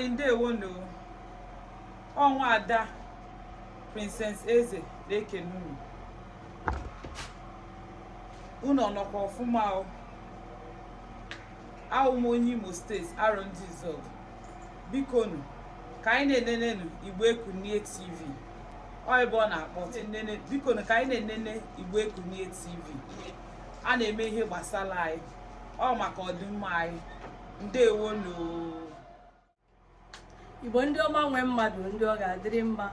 ndewonu ọ nwaada princess eze na-ekene unu unu ọnọkwa ọfụma o awụ m onye imo steeti arọndizuọgụ bikonu ka anyị na-enenenu igbo ekunie tv ọ ebe ọ na-akpọ nene bikonu ka anyị na-enene igbo ekunie tv a na-eme ihe gbasara anyị ọ maka ọdịmma anyị ndewonu igbo ndị ọma nwe mmadụ ndị ọ ga-adịrị mma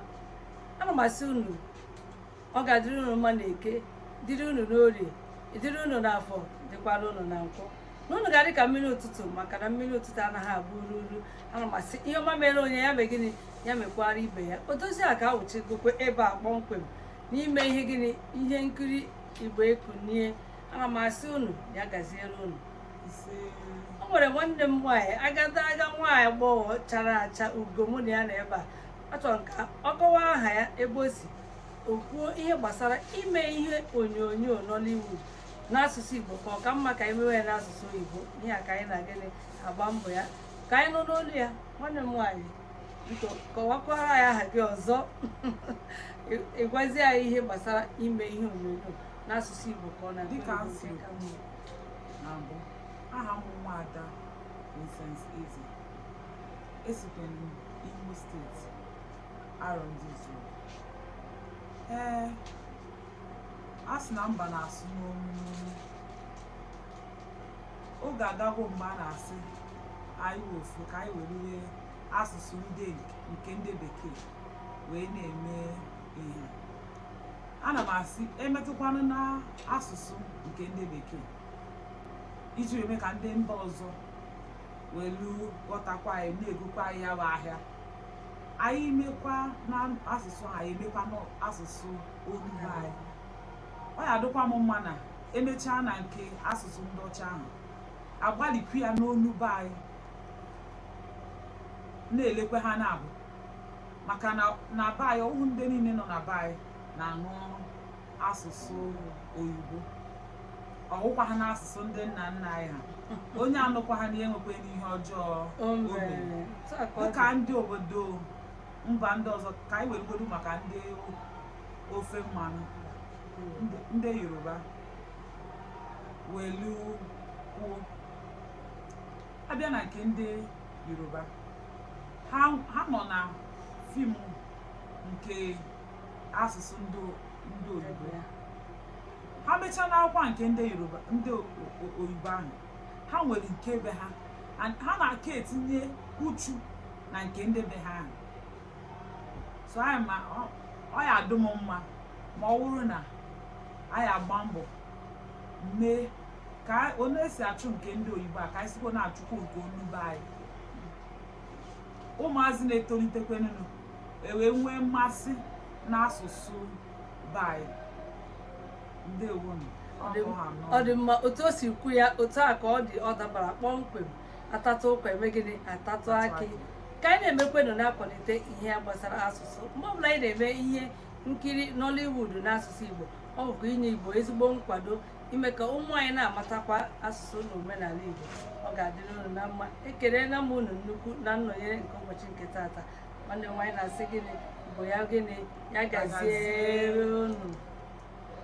ana m asị unu ọ ga-adịrị unu mma na eke dịrị unu n'orie dịrị unu n'afọ dịkwara unu na nkwọ na unu ga-adị ka mmiri ụtụtụ maka na mmiri ụtụtụ anaghị abụ uru uru ana m asị ihe ọma mere onye ya mee gịnị ya mekwara ibe ya odoziaka awụchigokwa ebe a kpọmkwem n'ime ihe gịnị ihe nkiri igbo ekunie ana m asị unu ya gaziere unu o nwere nwanne m nwaanyị agadaga nwaanyị agbọghọ chara acha ugo mụ na ya nọ ebe a achọrọ m ka ọ kọwa aha ya ebe o si o kwuo ihe gbasara ime ihe onyonyo Nollywood n'asụsụ Igbo ka ọ ka mma ka anyị mewe ya n'asụsụ Igbo ihe a ka anyị na gịnị agba mbọ ya ka anyị nụ n'olu ya nwanne m nwaanyị biko kọwakwara anyị aha gị ọzọ ị gwazie anyị ihe gbasara ime ihe onyonyo n'asụsụ Igbo ka ọ na-adị na mbụ aha m nwaada Princess Eze esikwa m Imo steeti Arọndizuọgụ ee a sị na mba na-asụ n'onu n'onu oge agago mgbe a na-asị anyị ofu ka anyị weriri asụsụ ndị nke ndị bekee wee na-eme ihe ana m asị emetụkwanụ na asụsụ nke ndị bekee iji wee mee ka ndị mba ọzọ welu ghọtakwa anyị na-egokwa anyị ya bụ ahịa anyị mekwa na asụsụ anyị emekwa n'asụsụ olu be anyị ọ ya adịkwa m mma na emechaa na nke asụsụ ndị ọcha ahụ agbalịkwu ya n'olu be anyị na-elekwa ha naabọ maka na na be anyị ọ wụhụ ndị niile nọ na be anyị na-anụ asụsụ oyibo ọ wụkwa ha n'asụsụ ndị nna nna anyị ha onye anụkwa ha na enwekwanụ ihe ọjọọ o mere. dịka ndị obodo mba ndị ọzọ ka anyị weregodu maka ndị ofe mmanụ ndị yoruba welu kwuo a bịa na nke ndị Yoruba ha ha nọ na fim nke asụsụ ndị ndị oyibo ya ha mechaa n'akwụkwọ nke ndị Yoruba ndị o- o- oyibo ahụ ha nwere nke be ha and ha na-aka etinye uchu na nke ndị be ha ahụ so anyị ma ọ- ọ ya-adụ m mma ma ọ bụrụ na anyị agba mbọ mee ka onye esi achụ nke ndị oyibo a ka anyị sikwa na-achụkwa nke olu be anyị ụmụazị na-etolitekwenụnụ ewee nwee mmasị n'asụsụ be anyị ndewonu ọ dị mma otu o si kwu ya otu a ka ọ dị ọ dabara kpọmkwem a tatụ ụkwa e mee gịnị a tatụ akị ka anyị na-emekwenụ na-akwalite ihe gbasara asụsụ mgbe ọbụla anyị na-eme ihe nkiri Nollywood n'asụsụ Igbo ọ bụkwa inye Igbo ezigbo nkwado ime ka ụmụ anyị na-amatakwa asụsụ na omenala Igbo ọ ga-adịrị unu na mma ekelela m unu nnukwu na nnọnyere nke ụbọchị nke taata nwanne m nwaanyị na-asị gịnị bụ ya gịnị ya gaziere unu